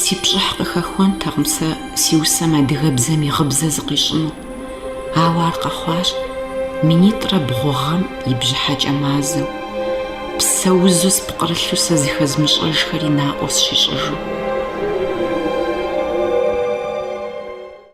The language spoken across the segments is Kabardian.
Си пщӏыхь къыхэхуэнтэкъым сэ си усэм адыгэбзэм и гъыбзэ зыкъищӏыну, ауэ ар къэхъуащ минитӏрэ бгъу гъэм и бжьыхьэкӏэ мазэм, псэузу спкърылъу сэ зыхэзмыщӏэжхэри наӏуэ сщищӏыжу.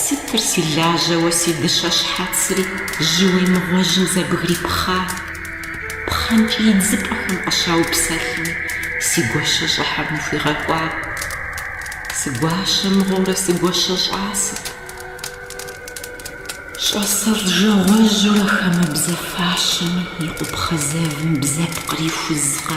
Сытыр си лажьэуэ си дыщэ щхьэцри Жьы уемыгъуэжьым зэбгрипхъа? Пхъэнкӏий идзыпӏэхэм къыщаупсэлъми Си гуащэ щӏыхьэм ухуигъэкӏуа? Сыгуащэ мыгъуэурэ сыгуащэ щӏасэт. Щӏасэщӏэ жагъуэжьурэ хамэбзэ фащэм и къупхъэ зэвым бзэпкъыр ихузкъэ?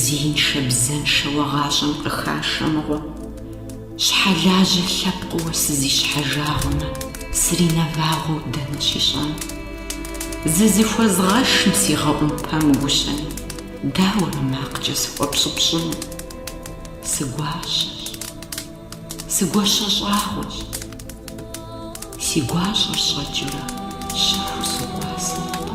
Зеиншэ-бзэншэуэ гъащӏэм къыхашэ мыгъуэ. Щхьэлажьэ лъэпкъыуэ сызищхьэжагъуэмэ, сринэвагъуэу дэнэ щищӏэн? Зызыхуэзгъэшым сигъэӏумпэм гущэми, дауэрэ макъкӏэ сыхуэпщӏыпщӏыну? Сыгуащэщ. Сыгуащэ щӏагъуэщ. Си гуащӏэр щӏэкӏыурэ щэхуу сокӏуасэ нобэ.